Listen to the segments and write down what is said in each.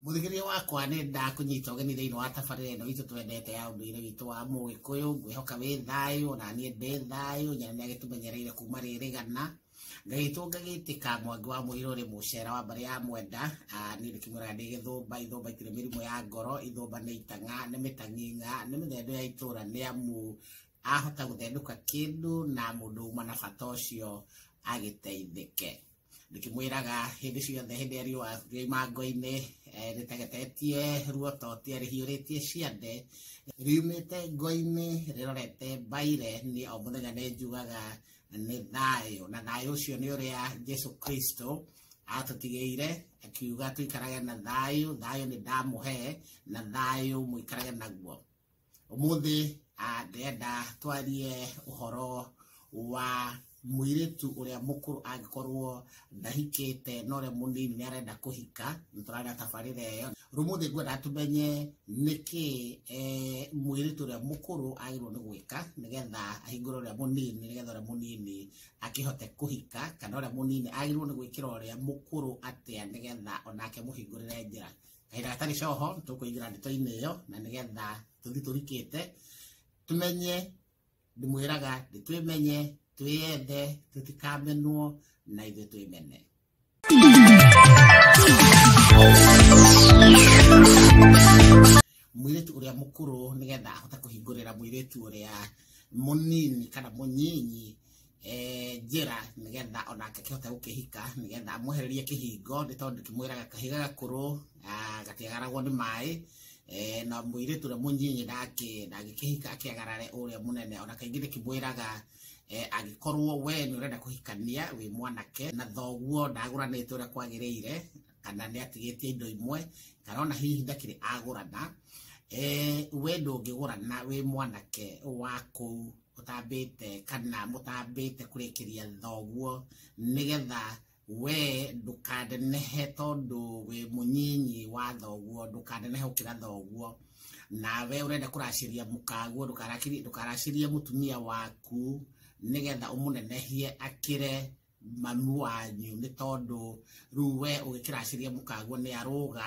Mũthikĩria wakwa nĩ ndakũnyita ũgeni thĩinĩ wa tabarĩra ĩno itũ twendete ya ũndũire witũ wa Mũgĩkũyũ. Ngwĩhoka wĩ thayũ, ona niĩ ndĩ thayũ, nyina nĩ agĩtũmenyereire kuma rĩrĩgana. Ngagĩtwo ngagĩtĩka mwangi wa mũirũ rĩ mũcera wa mbarĩ ya mwenda. Ah, Niĩ ndĩkĩmwĩraga ndĩ gĩthũmba, ithũmba itirĩ mĩrimũ ya ngoro, ithũmba nĩ itang'a, nĩ mĩtang'ing'a, nĩ mĩthendo ya itũũra nĩ amu ahota gũthendũka kĩndũ na mũndũ uma na bata ũcio agĩteithĩke. ndĩkĩmwĩraga hĩndĩ ciothe hĩndĩ ya riũa rĩ mango-inĩ eh, rĩtegetetie ruo totie rĩhiũrĩtie ciande riumĩte ngo-inĩ rĩrorete mbaire niĩ o mũthenya nĩ njugaga nĩ thayũ na thayũ ũcio nĩ ũrĩa jesu kristo atũtigĩire akiuga tũikarage na thayũ thayũ nĩ ndamũhe na thayũ mũikarage naguo Ũmũthĩ ah, ndĩrenda twarie ũhoro wa mũirĩtu ũrĩa mũkũrũ angĩkorwo ndahikĩte na ũrĩa mũnini nĩ arenda kũhika nĩ tũrarĩa tabarĩra ĩyo rũmũthĩ ngwenda tũmenye nĩkĩ eh, mũirĩtu ũrĩa mũkũrũ agĩrĩirwo nĩ gwĩka nĩgetha ahingũre ũrĩa mũnini nĩgetha ũrĩa mũnini akĩhote kũhika kana ũrĩa mũnini agĩrĩirwo nĩ gwĩkĩra ũrĩa mũkũrũ atĩa nĩgetha onake mũhingũrĩre njĩra kahinda gatarĩ coho nĩ tũkũingĩra ndeto-inĩ ĩyo na nĩgetha tũthi tũrikĩte tũmenye ndĩmwĩraga nĩ twĩmenye twĩyende tũtikamenwo na ithuĩ twĩmene mwĩrĩtu ũrĩa mũkũrũ nĩgetha ahote kũhingũrĩra mwĩrĩtu ũrĩa mũnini kana mũnyinyi eh, njĩra nĩgetha ona akĩhota gũkĩhika nĩgetha amwehererie kĩhingo nĩ tondũ kĩmwĩraga kahiga gakũrũ ah, gatiagaragwo nĩ maĩ eh, na mũirĩtu ũrĩa mũnyinyi nake ndangĩkĩhika akĩagarare ũrĩa mũnene ona kaingĩ nĩ kĩmwĩraga eh, angĩkorwo we nĩ ũrenda kũhikania wĩ mwanake na thoguo ndagũranĩte ũrĩa kwagĩrĩire kana nĩ atigĩtie indo imwe kana ona hihi ndakĩrĩ agũrana eh, we ndũngĩgũrana wĩ mwanake wa kũu mũtambĩte kana mũtambĩte kũrĩkĩria thoguo nĩgetha we ndũkanenehe tondũ wĩ mũnyinyi wa thoguo ndũkanenehe gũkĩra thoguo na we ũrenda kũracĩria mũkaguo ndũkaracĩrie mũtumia waku nĩgetha ũmũnenehie akĩre mami wanyu nĩ tondũ rĩu we ũgĩkĩracĩria mũkaguo nĩ arũga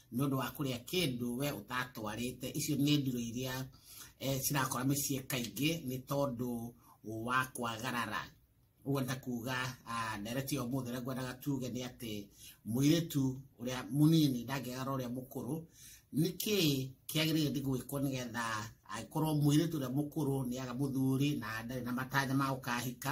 nĩ ũndũ wa kũrĩa kĩndũ we ũtatwarĩte icio nĩ ndiro iria eh, cirakora mĩciĩ kaingĩ nĩ tondũ wa kwagarara ũguo nda kuga ah, ndereti ya ũmũthĩ ũrĩa ngwendaga tuge nĩ atĩ mũirĩtu ũrĩa mũnini ndangĩgara ũrĩa mũkũrũ nĩkĩ kĩagĩrĩire nĩ gwĩkwo nĩgetha angĩkorwo mũirĩtu ũrĩa mũkũrũ nĩ aga mũthuri na ndarĩ na matanya ma gũkahika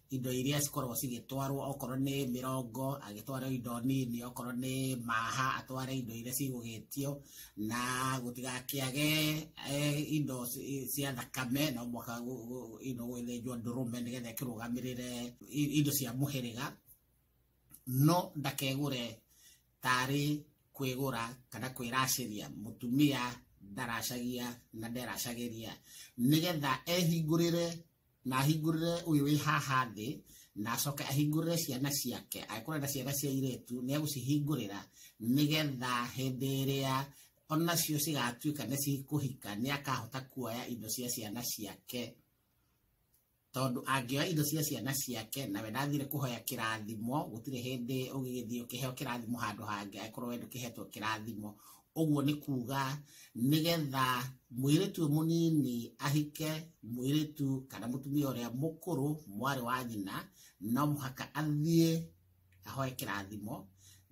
indo iria cikoragwo cigĩtwarwo okorwo nĩ mĩrongo agĩtwara indo nini okorwo nĩ maha atware indo iria cigũgĩtio na gũtigakĩage eh, indo cia thakame no mwaka indo gwĩthĩnjwo ndũrũme nĩgetha ĩkĩrũgamĩrĩre indo cia mũhĩrĩga no ndakegũre tarĩ kwĩgũra kana kwĩracĩria mũtumia ndaracagia na nderacagĩria nĩgetha ehingũrĩre na ahingũrĩre ũyũ wĩ haha thĩ na acoke ahingũrĩre ciana ciake angĩkorwo na ciana cia iretu nĩ egũcihingũrĩra nĩgetha hĩndĩ ĩrĩa onacio cigatuĩka nĩ cikũhika nĩ akahota kuoya indo cia ciana ciake tondũ angĩoya indo cia ciana ciake nawe ndathire kũhoya kĩrathimo gũtirĩ hĩndĩ ũgĩgĩthiĩ ũkĩheo kĩrathimo handũ hangĩ angĩkorwo we ndũkĩhetwo kĩrathimo ũguo nĩ kuga nĩgetha mwĩrĩtu ũyũ mũnini ahike mwĩrĩtu kana mũtumia ũrĩa mũkũrũ mwarĩ wa nyina no mũhaka athiĩ ahoe kĩrathimo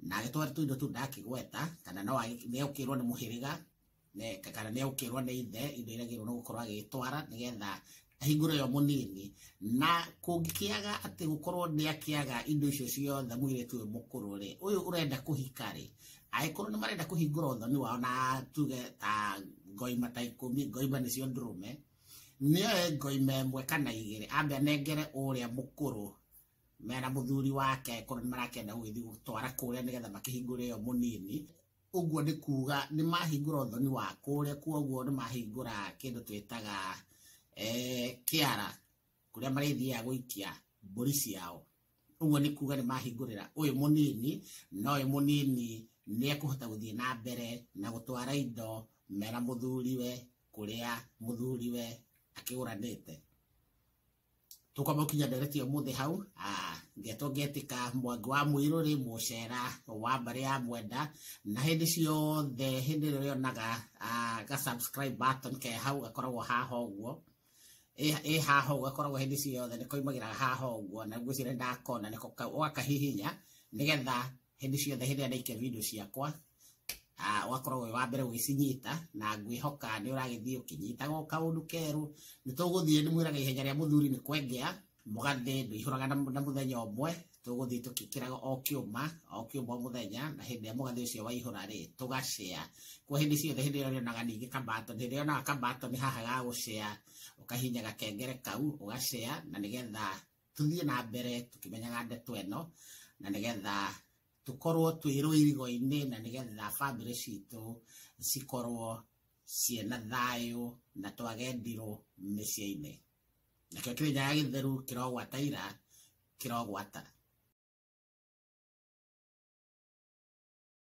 na agĩtware tũindo tũu ndakĩgweta kana no nĩegũkĩrwo nĩ mũhĩrĩga kana nĩegũkĩrwo nĩ ithe indo iria agĩrĩirwo nĩ gũkorwo agĩtwara nĩgetha hingũre yo mũnini na kũngĩkĩaga atĩ gũkorwo nĩ akĩaga indo icio ciothe mwĩrĩtu ũyũ mũkũrũ rĩ ũyũ ũrenda kũhika rĩ angĩkorwo nĩ marenda kũhingũra ũthoni wao na tuge ta ngoima ta ikũmi ngoima nĩcio ndũrũme nĩoe ngoima ĩmwe kana igĩrĩ ambe anengere ũrĩa mũkũrũ mena mũthuri wake korwo nĩ marakĩenda gũgĩthiĩ gũtwara kũrĩa nĩgetha makĩhingũre yo mũnini ũguo nĩ kuga nĩ mahingũra ũthoni wa kũrĩa kuoguo nĩ mahingũra kĩndũ twĩtaga eh, kĩara kũrĩa marĩthiaga gũikia mbũri ciao ũguo nĩ kuga nĩ mahingũrĩra ũyũ mũnini na ũyũ mũnini nĩ ekũhota gũthiĩ na mbere na gũtwara indo mera mũthuriwe kũrĩa mũthuriwe akĩgũranĩte tũkamũkinya ndereti ũmũthĩ hau ah, ngeto ngetĩka mwangi wa mũirũ rĩ mũcera wa mbarĩ ya mwenda na hĩndĩ ciothe hĩndĩ ĩrĩa ũrĩonaga ah, ga subscribe button ke hau gakoragwo haha ũguo ĩ haha ũguo gakoragwo hĩndĩ ciothe nĩ koimagĩra haha ũguo na ngwĩciria ndakona ũgakahihinya nĩgetha hĩndĩ ciothe hĩndĩ ĩrĩa ndaikĩa video ciakwa ah, ũgakorwo wĩ wa mbere ũgĩcinyita na ngwĩhoka nĩ ũragĩthiĩ ũkĩnyitaga o kaũndũ kerũ nĩ tũgũthiĩ nĩ mwĩraga ihenya rĩa mũthuri nĩ kwengea mũgathĩ ndũihũraga na na mũthenya ũmwe tũgũthiĩ tũkĩkĩraga o kĩũma o kĩũma o mũthenya na hĩndĩ ĩrĩa mũgathĩ ũcio waihũra rĩ tũgacea kwa hĩndĩ ciothe hĩndĩ ĩrĩa ũrĩonaga ningĩ kambato hĩndĩ ĩrĩa ũrĩonaga kambato nĩ haha ga gũcea ũkahinya gakengere kau ũgacea na nĩgetha tũthiĩ na mbere tũkĩmenyaga ndeto ĩno na nĩgetha tũkorwo twĩ rũirigo-inĩ na nĩgetha bamĩrĩ citũ cikorwo ciĩna thayũ na twage ndirũ mĩciĩ-inĩ nakĩo kĩrĩnyaga gĩtheru kĩrogwata ira kĩrogwata